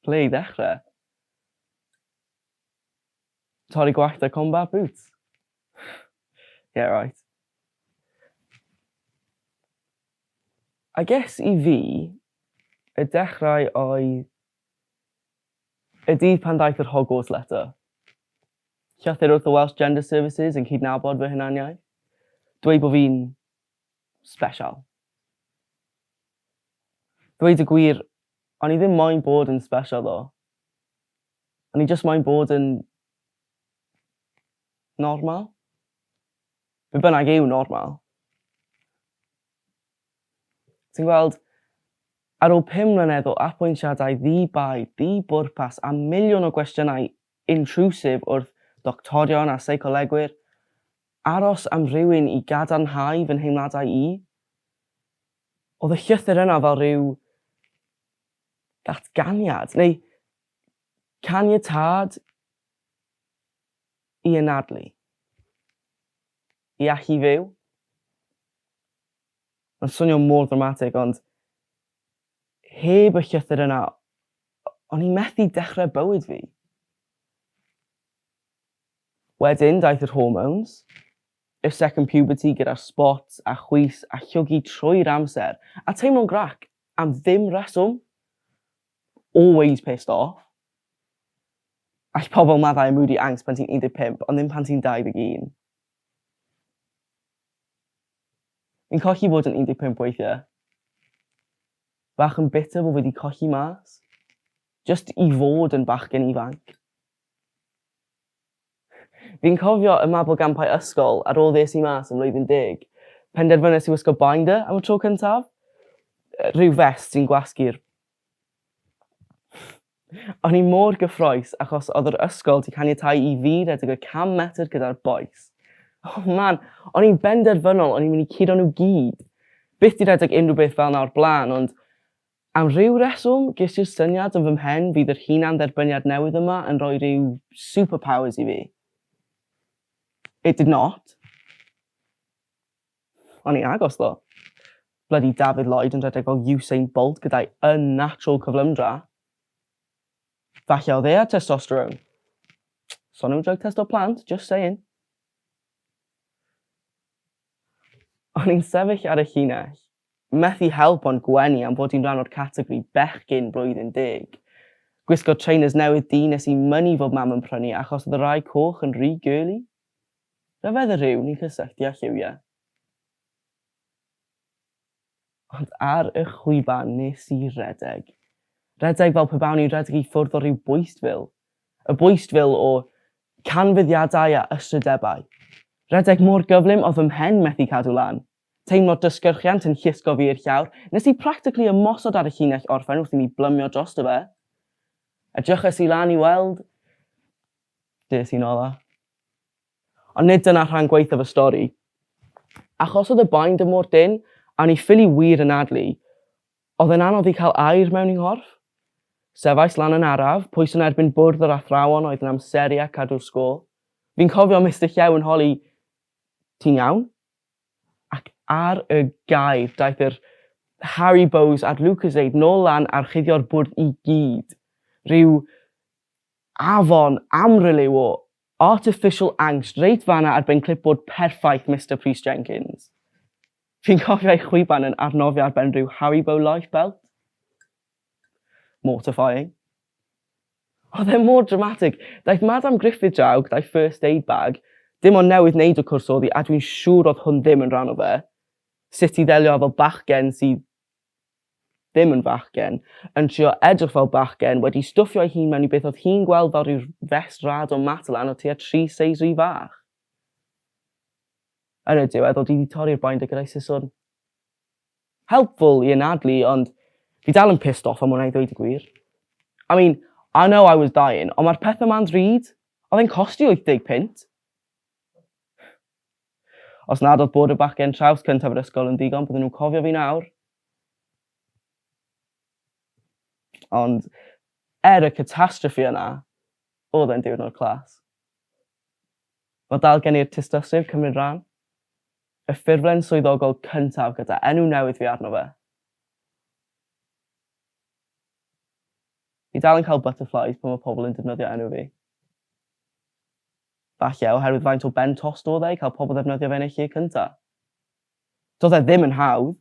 Ble i ddechrau? Torri gwallt a combat boots? yeah, right. I guess i fi, y dechrau oedd y dydd pan ddaeth yr Hogwarts letter. Llythyr wrth y Welsh Gender Services yn cydnabod fy hunaniaeth. Dweud bod fi'n special. Dweud y gwir, o'n i ddim moyn bod yn special ddo. O'n i jyst moyn bod yn normal. Be bynnag yw normal. Ti'n gweld, ar ôl pum mlynedd o apwyntiadau ddi-bai, di-bwrpas a miliwn o gwestiynau intrwsif wrth ddoctorion a seicolegwyr, aros am rywun i gadarnhau fy nheimladau i? Oedd y llythyr yna fel rhyw ddatganiad, neu caniatâd i anadlu, i allu fyw? Mae'n swnio mor ddramatig, ond heb y llythyr yna, O'n i methu dechrau bywyd fi. Wedyn daeth yr hormones, y second puberty gyda'r spots a chwys a llwgu trwy'r amser a teimlo'n grac am ddim reswm. Always pissed off. All pobl maddau â moody angst pan ti'n 15 ond ddim pan ti'n 21. Fi'n colli bod yn 15 weithiau. Bach yn bitter bo fi di colli mas. Jyst i fod yn bachgen ifanc. Fi'n cofio y mabolgampau ysgol ar ôl ddes i mas ym mlwyddyn deg. Penderfynes i wisgo binder am y tro cyntaf. Rhyw fest sy'n gwasgu'r. O'n i mor gyffroes achos oedd yr ysgol 'di caniatáu i fi redeg y 100 metr gyda'r bois. Oh man, o'n i'n benderfynol o'n i'n mynd i curo nhw gyd. Byth 'di redeg unrhyw beth fel 'na o'r blaen ond am ryw reswm ges i'r syniad yn fy mhen fydd yr hunan-dderbyniad newydd yma yn rhoi rhyw superpowers i fi. It did not. O'n ni'n agos ddo. Bloody David Lloyd yn rhedeg fel Usain Bolt gyda'i unnatural cyflymdra. Falle oedd e ar testosterone. Son am drug test o plant, just saying. O'n i'n sefyll ar y llinell. Methu help ond gwenu am fod i'n rhan o'r categori bechgyn blwyddyn deg. Gwisgo trainers newydd du nes i mynnu fod mam yn prynu achos oedd y rai coch yn rhy girly. Rhyfedd y rhyw ni'n cysylltu â lliwiau. Ond ar y chwiban nes i redeg. Redeg fel pe bawn i'n rhedeg i ffwrdd o ryw bwystfil. Y bwystfil o canfyddiadau a ystrydebau. Rhedeg mor gyflym oedd fy mhen methu cadw lan. Teimlo dysgyrchiant yn llusgo fi i'r llawr, nes i practically ymosod ar y llinell orffen wrth i mi blymio drosto fe. Edryches i lan i weld Des i'n ola. Ond nid dyna rhan gwaethaf y stori. Achos oedd y binder mor dynn, a o'n i ffili wir anadlu, oedd e'n anodd i cael aer mewn i nghorff. Sefais lan yn araf, pwys yn erbyn bwrdd yr athrawon oedd yn amseru a cadw'r sgôl. Fi'n cofio Mister Llew yn holi, Ti'n iawn? Ac ar y gair, daeth yr Haribo's a'r Lucozade nôl lan a rhuddio'r bwrdd i gyd. Rhyw Afon Amryl yw o! Artificial angst reit fanna ar ben clipboard perffaith Mister Prys Jenkins. Fi'n cofio ei chwiban yn arnofio ar ben rhyw Haribo life belt. Mortifying. Oedd e mor dramatig. Daeth Madam Griffith draw gyda'i first aid bag, dim ond newydd neud y cwrs oddi a dwi'n siŵr oedd hwn ddim yn rhan o fe. Sut i ddelio â fel bachgen sydd ddim yn fachgen, yn trio edrych fel bachgen, wedi stwffio'i hun mewn i beth oedd hi'n gweld fel rhyw fest rad o Matalan o tua tri seis rhy fach. Yn y diwedd, oedd hi wedi torri'r binder gyda'i siswrn. Helpful i anadlu, ond fi dal yn pissed off am hwnna i ddweud y gwir. I mean, I know I was dying, ond mae'r pethau ma'n ddrud. Oedd e'n costi 80 punt. Os nad oedd bod y bachgen traws cyntaf yr ysgol yn ddigon, bydden nhw'n cofio fi nawr. Ond er y catastrophe yna, oedd e'n diwrnod clas. Mae dal gen i'r tystysgrif cymryd rhan, y ffurflen swyddogol cyntaf gyda enw newydd fi arno fe. Fi dal yn cael butterflies pan mae pobl yn defnyddio enw fi. Falle oherwydd faint o ben tost oedd e i cael pobl ddefnyddio fe yn eu lle cyntaf. Doedd e ddim yn hawdd,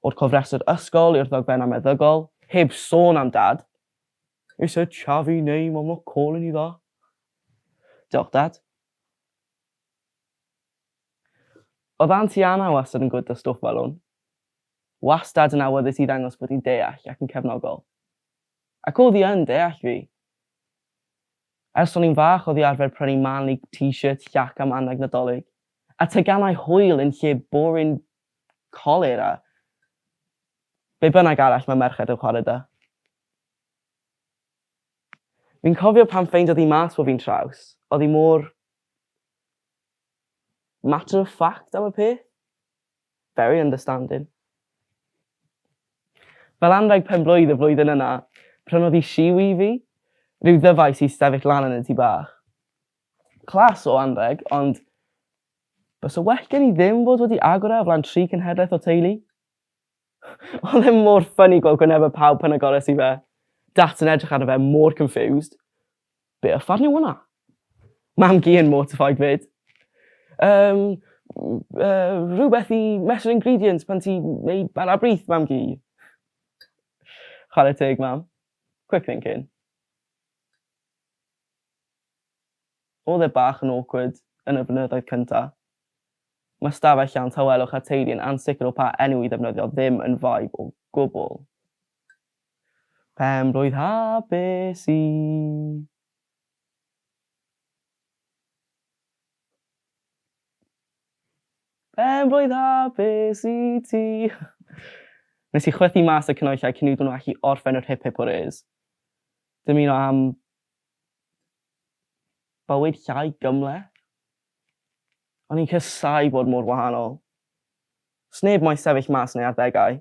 o'r cofrestr ysgol i'r ddogfen am meddygol, heb sôn am Dad. Is it Xavi neu Mom not calling you that? Diolch, Dad. Oedd Anti Anna wastad yn gwd da stwff fel hwn. Wastad yn awyddus i ddangos bod hi'n deall ac yn cefnogol. Ac oedd hi yn deall fi. Ers o'n i'n fach oddi arfer prynu Man League t-shirt llac am anrheg Nadolig, a teganau hwyl yn lle boring colur a be bynnag arall mae merched yn chwarae 'da. Fi'n cofio pan ffeindiodd hi mas bod fi'n traws, oedd hi mor matter of fact am y peth. Very understanding. Fel anrheg penblwydd y flwyddyn yna, prynodd hi siw i fi, rhyw ddyfais i sefyll lan yn y tŷ bach. Class o anrheg, ond bysa well gen i ddim fod wedi agor e o flan tri cenhedlaeth o teulu. Oedd e mor ffyni gweld gwynebau pawb pan agores i fe. Dad yn edrych arno fe mor confused. Be uffern yw hwnna? Mam-gu yn mortified 'fyd. Yym yy rhywbeth i mesur ingredients pan ti'n neud bara brith mam-gu. Chware teg mam. Quick thinking. Oedd e bach yn awkward yn y blynyddoedd cynta'. Mae stafell llawn tawelwch a teulu yn ansicr o pa enw i ddefnyddio ddim yn vibe o gwbl. Pen-blwydd hapus i Pen-blwydd hapus i ti. Nes i chwythu mas y cnwyllai cyn iddyn nhw allu orffen yr hip hip hwrês. Dymuno am bywyd llai gymhleth. O'n i'n casáu bod mor wahanol. Sneb moyn sefyll mas yn ei arddegau.